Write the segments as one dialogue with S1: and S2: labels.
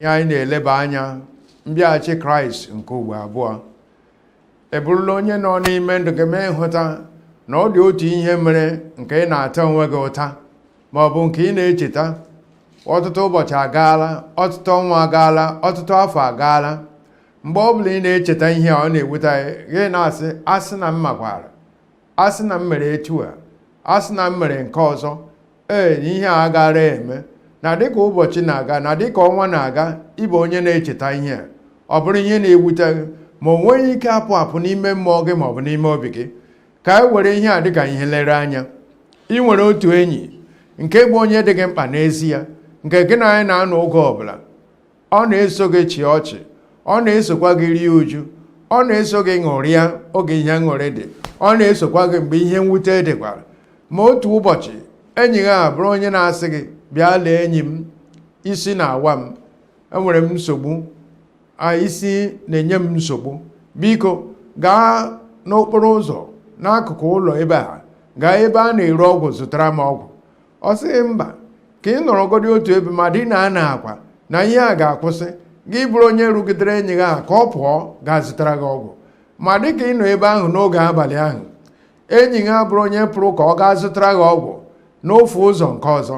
S1: ihe anyị na-eleba anya mbịaghachi kraịst nke ugbo abụọ ị bụrụla onye nọ n'ime ndụ gị mee nhụta na ọ dị otu ihe mere nke ị na-ata onwe gị ụta ma ọ bụ nke ị na-echeta ọtụtụ ụbọchị agaala ọtụtụ ọnwa agaala ọtụtụ afọ agaala mgbe ọ bụla ị na-echeta ihe a ọ na-ewute gị na-asị asị na m makwara asị na m mere etu a asị na m mere nke ọzọ ee na ihe a gaara eme na dịka ụbọchị na-aga na dịka ọnwa na-aga ị bụ onye na-echeta ihe a ọ bụrụ ihe na-ewute gị ma o nweghị ike apụ apụ n'ime mmụọ gị ma ọ bụ n'ime obi gị ka anyị were ihe a dịka ihe nlere anya i nwere otu enyi nke bụ onye dị gị mkpa n'ezie nke gị na ya na-anọ oge ọbụla ọ na-eso gị chịa ọchị ọ na-esokwa gị rie uju ọ na-eso gị ṅụrịa oge ihe aṅụrị dị ọ na-esokwa gị mgbe ihe mwute dịkwara ma otu ụbọchị enyi gị a bụrụ onye na-asị gị bịa lee enyi m isi na-awa m enwere m nsogbu isi na-enye m nsogbu biko gaa n'okporo ụzọ n'akụkụ ụlọ ebe a gaa ebe a na-ere ọgwụ zụtara m ọgwụ ọ sị gị mba ka ị nọrọgodi otu ebe ma dina n'akwa na ihe a ga-akwụsị gị bụrụ onye rụgidere enyi gị a ka ọ pụọ gaa zụtara gị ọgwụ ma dị ka ị nọ ebe ahụ n'oge abalị ahụ enyi gị abụrụ onye pụrụ ka ọ gaa zụtara gị ọgwụ n'ofe ụzọ nke ọzọ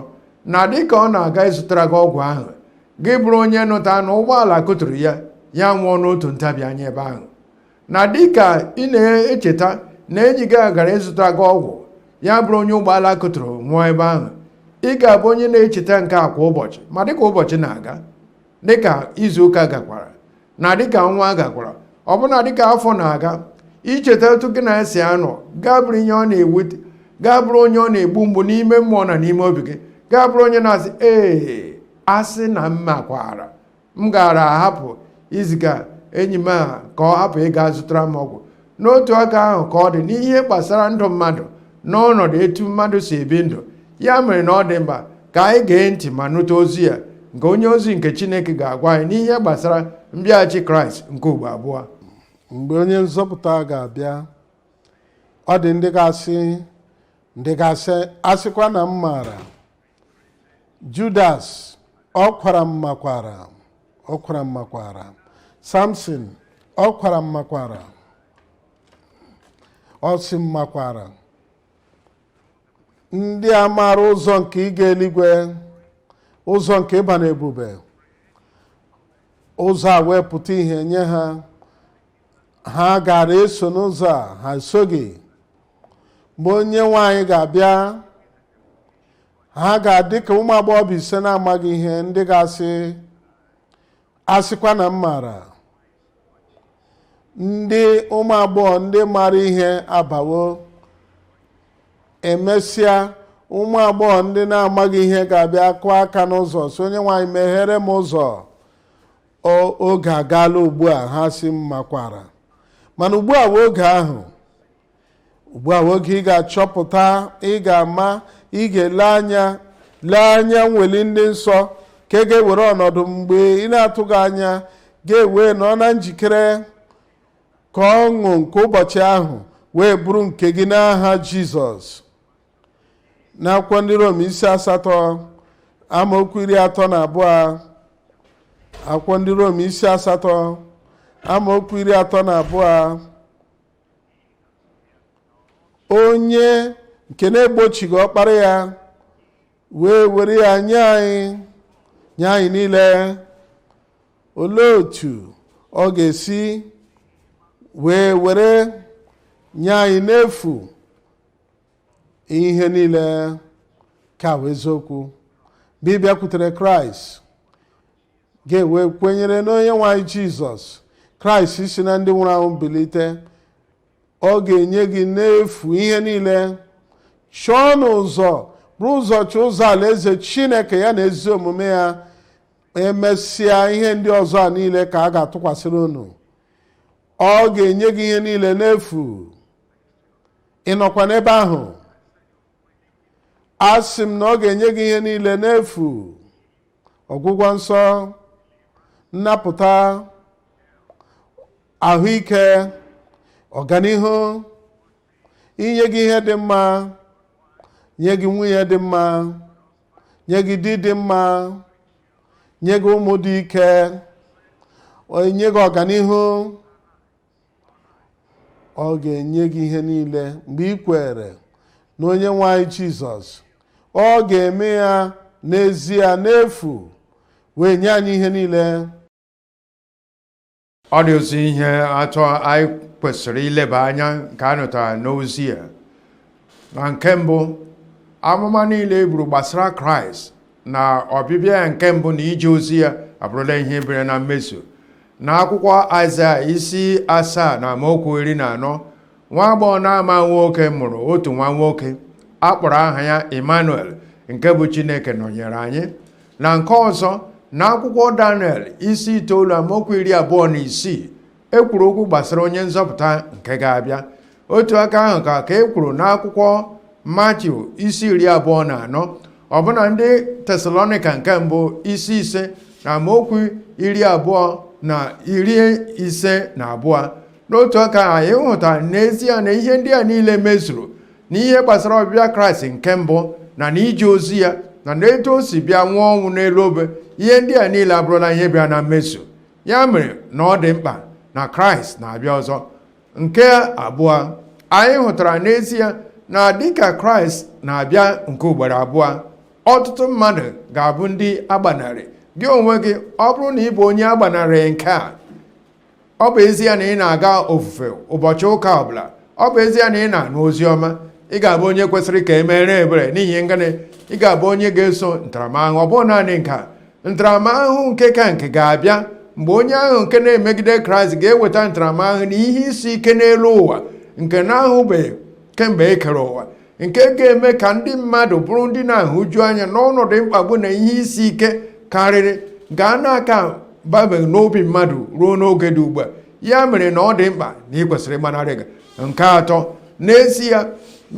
S1: na dị ka ọ na-aga ịzụtara gị ọgwụ ahụ gị bụrụ onye nụta na ụgbọala kụturu ya ya nwụọ n'otu ntabi anya ebe ahụ na dịka ị na-echeta na enyi gị gara ịzụta gị ọgwụ ya bụrụ onye ụgbọala kụturu nwụọ ebe ahụ ị ga-abụ onye na-echeta nke a kwa ụbọchị ma dịka ụbọchị na-aga dịka izuụka gakwara na dịka ọnwa gakwara ọbụna dịka afọ na-aga i cheta otu gị na ya si anọ gị abụrụ onye ọ na-ewute gị abụrụ onye ọ na-egbu mgbu n'ime mmụọ na n'ime obi gị gị abụrụ onye na-asị ee asị na m makwara m gaara ahapụ iziga enyi m a ka ọ hapụ ịga zụtara m ọgwụ n'otu aka ahụ ka ọ dị n'ihe gbasara ndụ mmadụ n'ọnọdụ etu mmadụ si ebi ndụ ya mere na ọ dị mkpa ka anyị gee ntị ma nụta ozi a nke onye ozi nke chineke ga-agwa anyị n'ihe gbasara mbịaghachi kraịst nke ugbo abụọ mgbe
S2: onye nzọpụta ga-abịa ọ dị ndị ga-asị ndị ga-asị asịkwa na m maara judas ọ kwara m makwara ọ kwara m makwara samson ọ kwara m makwara ọ sị m makwara ndị a maara ụzọ nke ịga eluigwe ụzọ nke ịba n'ebube ụzọ a wee pụta ihe nye ha ha gaara eso n'ụzọ a ha esoghị mgbe onye nwe anyị ga-abịa ha ga-adị ka ụmụ agbọghọbịa ise na-amaghị ihe ndị ga-asị asịkwa na m maara ndị ụmụ agbọghọ ndị maara ihe abawo emesịa ụmụ agbọghọ ndị na-amaghị ihe ga-abịa kụọ aka n'ụzọ sị onye nwe anyị meghere m ụzọ O- oge agaala ugbu a ha sị m makwara mana ugbu a wụ oge ahụ ugbu a wụ oge ị ga-achọpụta ị ga-ama ị ga-ele anya lee anya nweli ndị nsọ nke ga-ewere ọnọdụ mgbe ị na-atụghị anya gị ewee nọ na njikere ka ọṅụ nke ụbọchị ahụ wee bụrụ nke gị n'aha jizọs n'akwụkwọ ndị rom isi asatọ amaokwu iri atọ na abụọ akwụkwọ ndị rom isi asatọ amaokwu iri atọ na abụọ onye nke na-egbochighị ọkpara ya wee were ya nye anyị nye anyị niile olee otu ọ ga-esi wee were nye anyị n'efu ihe niile nke a bụ eziokwu mgbe ị bịakwutere kraịst gị ewee kwenyere n'onye nwe anyị jizọs kraịst si na ndị nwụrụ anwụ bilite ọ ga-enye gị n'efu ihe niile chọọnụ ụzọ buru ụzọ chọọ ụzọ alaeze chineke ya na ezi omume ya emesịa ihe ndị ọzọ a niile ka a ga-atụkwasịrị unu ọ ga-enye gị ihe niile n'efu ị nọkwa n'ebe ahụ asị m na ọ ga-enye gị ihe niile n'efu ọgwụgwọ nsọ nnapụta ahụike ọganihu inye gị ihe dị mma nye gị nwunye dị mma nye gị di dị mma nye gị ụmụ dị ike nye gị ọganihu ọ ga-enye gị ihe niile mgbe ị kweere n'onye nwe anyị jizọs ọ ga-eme ya n'ezie n'efu wee nye anyị ihe niile
S1: ọ dị ụzọ ihe atọ anyị kwesịrị ileba anya nke a nụtara n'ozi a na nke mbụ amụma niile e buru gbasara kraịst na ọbịbịa ya nke mbụ na ije ozi ya abụrụla ihe bịara na mmezu na akwụkwọ Aịzaya isi asaa na amaokwu iri na anọ nwa agbọghọ na-amaghị nwoke mụrụ otu nwa nwoke a kpọrọ aha ya Emmanuel nke bụ Chineke nọnyere anyị na nke ọzọ na akwụkwọ Daniel isi itoolu amaokwu iri abụọ na isii e kwuru okwu gbasara onye nzọpụta nke ga-abịa otu aka ahụ ka e kwuru n'akwụkwọ matiu isi iri abụọ na anọ ọbụna ndị tesalonika nke mbụ isi ise na amaokwu iri abụọ na iri ise na abụọ n'otu aka ahụ anyị hụta n'ezie na ihe ndị a niile mezuru n'ihe gbasara ọbịbịa kraịst nke mbụ na n'ije ozi ya na n'etu o si bịa nwụọ ọnwụ n'elu obe ihe ndị a niile abụrụla ihe bịa na mmezu ya mere na ọ dị mkpa na kraịst na-abịa ọzọ nke abụọ anyị hụtara n'ezie na dịka kraịst na-abịa nke ugboro abụọ ọtụtụ mmadụ ga-abụ ndị agbanarị gị onwe gị ọ bụrụ na ị bụ onye agbanarị nke a ọ bụ ezie na ị na-aga ofufe ụbọchị ụka ọbụla ọ bụ ezie na ị na-anụ ozi ọma ị ga-abụ onye kwesịrị ka e meere ebere n'ihi na gịnị ị ga-abụ onye ga-eso ntaramahụhụ ọ bụghị naanị nke a ntaramahụhụ nke ka nke ga-abịa mgbe onye ahụ nke na-emegide kraịst ga-eweta ntaramahụhụ na ihe isi ike n'elu ụwa nke na-ahụbeghị kemgbe e kere ụwa nke ga-eme ka ndị mmadụ bụrụ ndị na-ahụju anya n'ọnọdụ mkpagbu na ihe isi ike karịrị ga na-aka babeghị n'obi mmadụ ruo n'oge dị ugbu a ya mere na ọ dị mkpa na ị kwesịrị ịgbanarị gị nke atọ n'ezie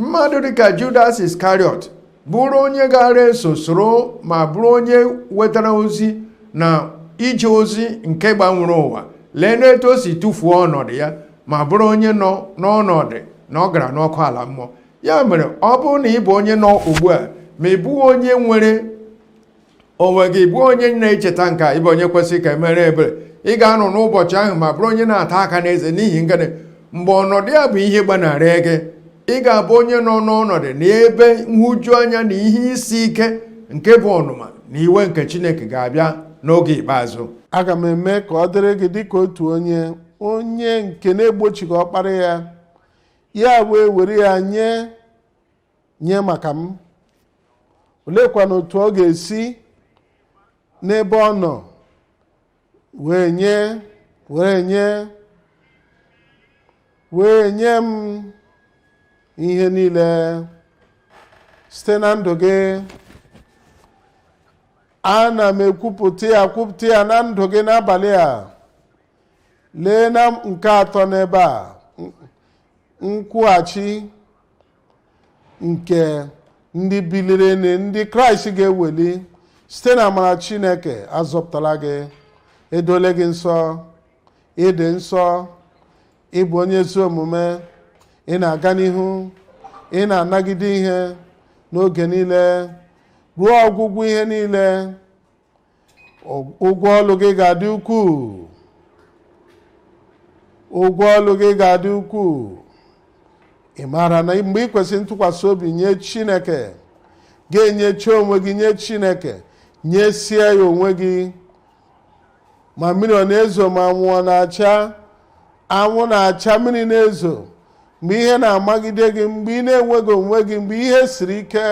S1: mmadụ dịka Judas Iscariot bụrụ onye gara eso soro ma bụrụ onye wetara ozi na ije ozi nke gbanwere ụwa lee n'etu o si tụfuo ọnọdụ ya ma bụrụ onye nọ n'ọnọdụ na ọ gara n'ọkụ ala mmụọ ya mere ọ bụrụ na ị bụ onye nọ ugbu a ma ị bụghị onye nwere onwe gị bụ onye na-echeta nke a ị bụ onye kwesịrị ka e meere ebere ị ga-anọ n'ụbọchị ahụ ma bụrụ onye na-ata aka n'eze n'ihi na gịnị mgbe ọnọdụ ya bụ ihe gbanarị gị ị ga-abụ onye nọ n'ọnọdụ n'ebe nhụju anya na ihe isi ike nke bụ ọnụma na iwe nke chineke ga-abịa n'oge ikpeazụ aga m
S2: eme ka ọ dịrị gị dịka otu onye onye nke na-egbochighị ọkpara ya ya wee were ya nye nye maka m oleekwanụ otu ọ ga-esi n'ebe ọ nọ wee nye wee nye wee nye m ihe niile site na ndụ gị ana m ekwupụta ya kwupụta ya na ndụ gị n'abalị a lee na nke atọ n'ebe a nkwụghachi nke ndị biliri na ndị kraịst ga-eweli site na amara chineke azọpụtala gị edole gị nsọ ịdị nsọ ịbụ onye ezi omume ị na-aga n'ihu ị na-anagide ihe n'oge niile ruo ọgwụgwụ ihe niile ụgwọ ọlụ gị ga-adị ukwuu ụgwọ ọlụ gị ga-adị ukwuu ị maara na mgbe ị kwesịrị ntụkwasị obi nye chineke ga-enyechi onwe gị nye chineke nyesie ya onwe gị ma mmiri ọ na-ezo ma anwụ ọ na-acha anwụ na-acha mmiri na-ezo mgbe ihe na-amagide gị mgbe ị na-enweghị onwe gị mgbe ihe siri ike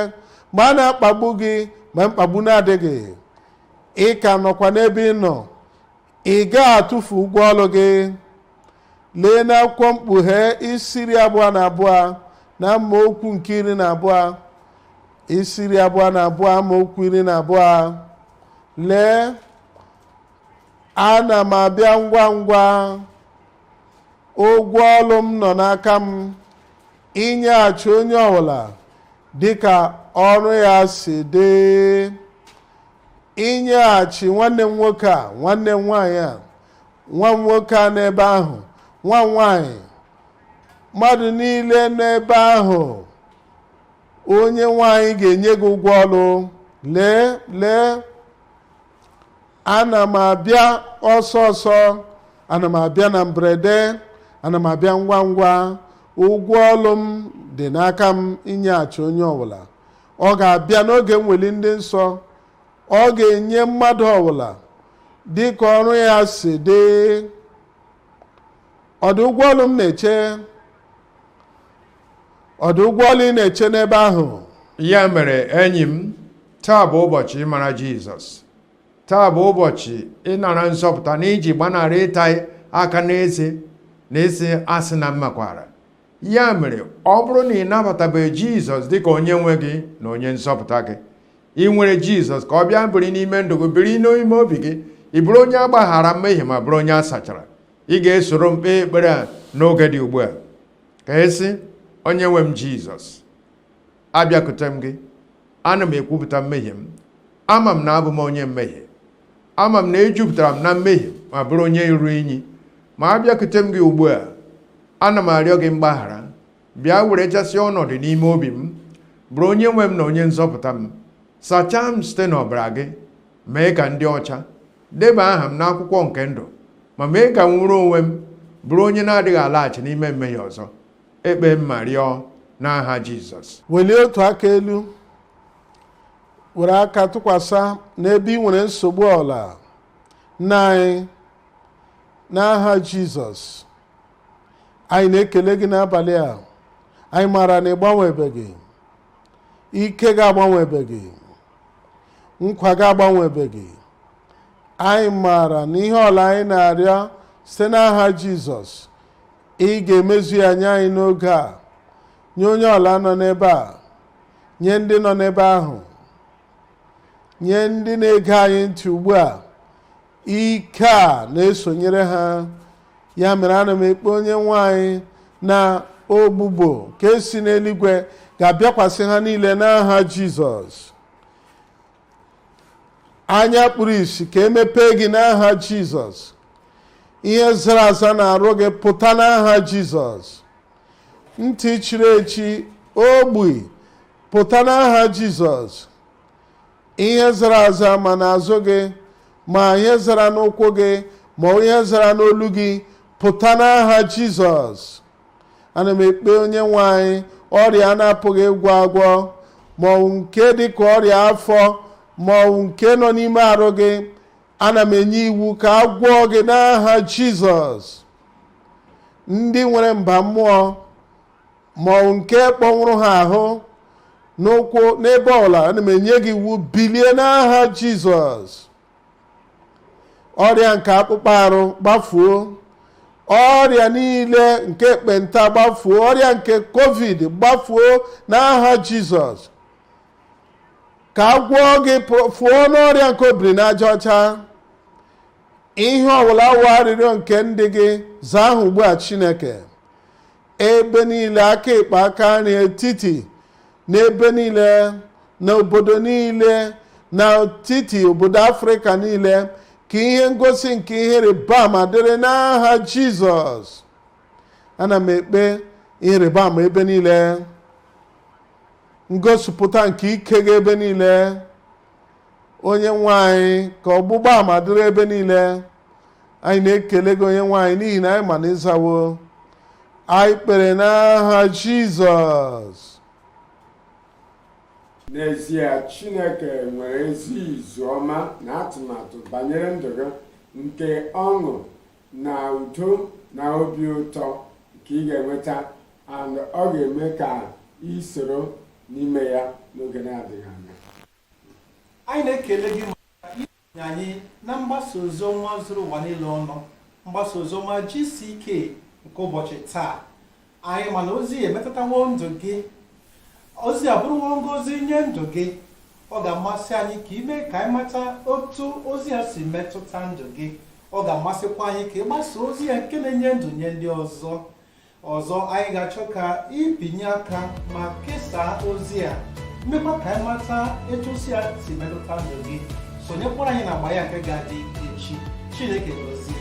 S2: mgbe a na-akpagbu gị ma mkpagbu na-adịghị ị ka nọkwa n'ebe ị nọ ị gaghị atụfu ụgwọ ọlụ gị lee n'akwụkwọ mkpughe isi iri abụọ na abụọ na amaokwu nke iri na abụọ isi iri abụọ na abụọ amaokwu iri na abụọ lee ana m abịa ngwa ngwa ụgwọ ọlụ m nọ n'aka m inyeghachi onye ọbụla dịka ọrụ ya si dị inyeghachi nwanne m nwoke a nwanne m nwaanyị a nwa m nwoke a n'ebe ahụ nwa m nwaanyị mmadụ niile n'ebe ahụ onye nwe anyị ga-enye gị ụgwọ ọlụ lee lee ana m abịa ọsọ ọsọ ana m abịa na mberede ana m abịa ngwa ngwa ụgwọ ọlụ m dị n'aka m inyeghachi onye ọbụla ọ ga-abịa n'oge mweli ndị nsọ ọ ga-enye mmadụ ọbụla dị ka ọrụ ya si dị ọ dị ụgwọ ọlụ m na-eche ọ dị ụgwọ ọlụ ị na-eche n'ebe ahụ ya mere
S1: enyi m taa bụ ụbọchị ịmara jizọs taa bụ ụbọchị ịnara nzọpụta na iji gbanarị ịta aka n'eze na ịsị asị na m makwaara ya mere ọ bụrụ na ị nabatabeghị jizọs dịka onye nwe gị na onye nzọpụta gị ị nwere jizọs ka ọ bịa biri n'ime ndụ gị biri n'ime obi gị ị bụrụ onye a gbaghara mmehie ma bụrụ onye a sachara ị ga-esoro m kpee ekpere a n'oge dị ugbu a ka ị sị onye nwe m jizọs abịakute m gị ana m ekwupụta mmehie m ama m na abụ m onye mmehie ama m na ejupụtara m na mmehie ma bụrụ onye iru inyi ma abịakute m gị ugbu a ana m arịọ gị mgbaghara bịa werechasịa ọnọdụ n'ime obi m bụrụ onye nwe m na onye nzọpụta m sachaa m site n'ọbara gị mee ka m dị ọcha deba aha m n'akwụkwọ nke ndụ ma mee ka m nwụrụ onwe m bụrụ onye na-adịghị alaghachi n'ime mmehie ọzọ ekpee m ma rịọ n'aha Jizọs welie otu aka
S2: elu were aka tụkwasị n'ebe ị nwere nsogbu ọbụla nna anyị n'aha jizọs anyị na-ekele gị n'abalị a anyị maara na ị gbanwebeghị ike gị agbanwebeghị nkwa gị agbanwebeghị anyị maara na ihe ọbụla anyị na-arịọ site n'aha jizọs ị ga-emezu ya nye anyị n'oge a nye onye ọbụla nọ n'ebe a nye ndị nọ n'ebe ahụ nye ndị na-ege anyị ntị ugbu a ike a na-esonyere ha ya mere ana m ekpe onye nwe anyị na ọgwụgwọ nke si n'eluigwe ga-abịakwasị ha niile n'aha jizọs anya kpuru isi ka e mepee gị n'aha jizọs ihe zara aza n'arụ gị pụta n'aha jizọs ntị chiri echi ogbi pụta n'aha jizọs ihe zara aza ma n'azụ gị ma ihe zara n'ụkwụ gị ma ihe zara n'olu gị pụta n'aha jizọs ana m ekpe onye nwe anyị ọrịa a na-apụghị ịgwọ agwọ ma ọ bụ nke dị ka ọrịa afọ ma ọ bụ nke nọ n'ime arụ gị ana m enye iwu ka a gwọọ gị n'aha jizọs ndị nwere mba mmụọ ma ọ bụ nke kpọnwụrụ ha ahụ n'ụkwụ n'ebe ọbụla ana m enye gị iwu bilie n'aha jizọs ọrịa nke akpụkpọ arụ gbafuo ọrịa niile nke ekpenta gbafuo ọrịa nke covid gbafuo n'aha jizọs ka a gwọọ gị fụọ n'ọrịa nke obiri n'aja ọcha ihe ọbụla wụ arịrịọ nke ndị gị zaa ha ugbu a chineke ebe niile aka ekpe aka nri etiti n'ebe niile na obodo niile na etiti obodo afrịka niile ka ihe ngosi nke ihe ịrịba ama dịrị n'aha jizọs ana m ekpe ihe ịrịba ama ebe niile ngosipụta nke ike gị ebe niile onye nwe anyị ka ọgbụgba ama dịrị ebe niile anyị na-ekele gị onye nwe anyị n'ihi na anyị ma na ị zawo anyị kpere n'aha jizọs
S3: n'ezie chineke nwere ezi izu ọma na atụmatụ banyere ndụ gị nke ọṅụ na udo na obi ụtọ nke ị ga-enweta and ọ ga-eme ka ị soro n'ime ya n'oge na-adịghị anya anyị na-ekele
S4: gị anyị na mgbasa oziọma zuru ụwa niile ọnụ mgbasa oziọma GCK nke ụbọchị taa anyị ma na ozi emetụtawo ndụ gị ozi abụrụwo ngozi nye ndụ gị ọ ga-amasị anyị ka i mee ka anyị mata otu ozi ya si metụta ndụ gị ọ ga-amasịkwa anyị ka ị gbasaa ozi ya nke na-enye ndụ nye ndị ọzọ ọzọ anyị ga-achọ ka i binye aka ma kesaa ozi a meekwa ka anyị mata etu ozi a si metụta ndụ gị sonyekwara anyị na agba ya nke ga-adị echi chineke gozie